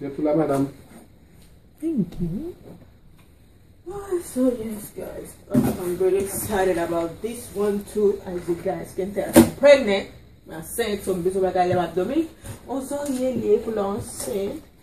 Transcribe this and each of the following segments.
Jwèt ou la madam. Thank you. Ahh so yes guys I'm really excited about this one too as you guys can tell I'm pregnant Mwen ansent so m bezwen bagay lè m ap domi Ozon ye liye pou lè w ansent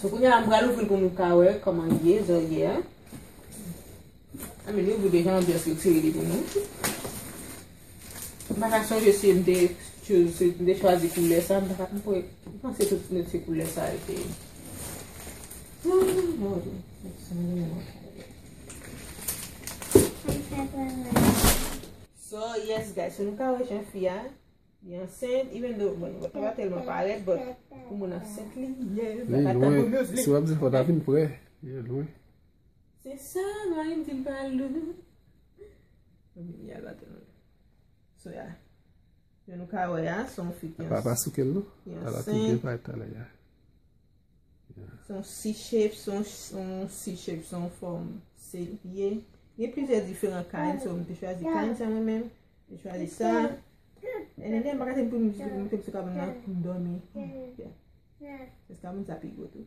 So kounye a m pral ouvri pou nou ka wè koman li ye, zò ye a. A mi nou vou de jan ambiyans li tire li pou nou. M baka chanje si m de chwazi koule sa, m baka m pou e. M panse tout si m de koule sa e te. Fèy fè travay la. So yes guys, nou ka wè jan fi a li ansent even though bon li pa telman parèt but pou moun ansent li ye. Li lwen, si wap di fò ta vin prè, li lwen. Se sa mari m di m pa al lwen. Mwen vin yal la telman. So ya. Jan nou ka wè a, son fi ki ansent. Papa souke l non. Ki ansent. Ala tout gen vibe talè a. Son C-shape, son C-shape, son fòm se ye. Gen plizyè diferan kain, so m te chwazi kain sa mwen menm. M chwazi sa. E nè nè m baka te m pou m te m sou kabann nan pou m dòmi. Se kabann sa pi gwo tou.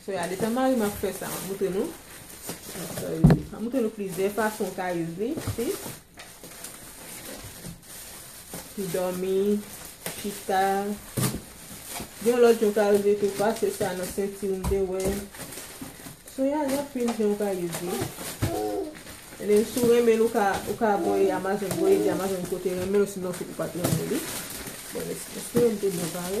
Sou ya detan mari m ap fè sa map moutre nou map moutre nou plizyè fason ou ka use li si pou dòmi chita gen yon lòt jan ou ka use li tou pase sa nan senti ou m te wè sou ya gen anpil jan ou ka use li e menm si ou renmen l ou ka ou ka voye amazon voye di amazon ou te renmen l osinon se ou pat renmen li bon lèt's moutre m te byen pare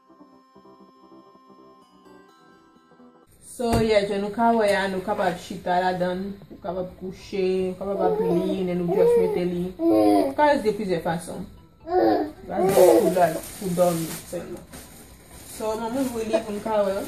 So yeah, jan nou ka wè a, nou kapab chita ladan l, nou kapab kouche, nou kapab ap li, men nou just mete li. Nou ka itil plizyè fason. Sa se pou dat, pou dòmi sèlman. So, m ap ouvri li pou nou ka wè l.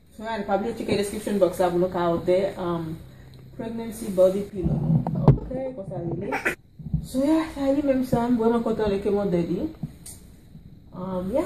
Fran, pa bliye tcheke description box la pou nou ka òdè pregnancy body pillow. Ok, konsa li ye. So ya, sa li menm sa. M vreman kontan le ke m òdè li. Ya.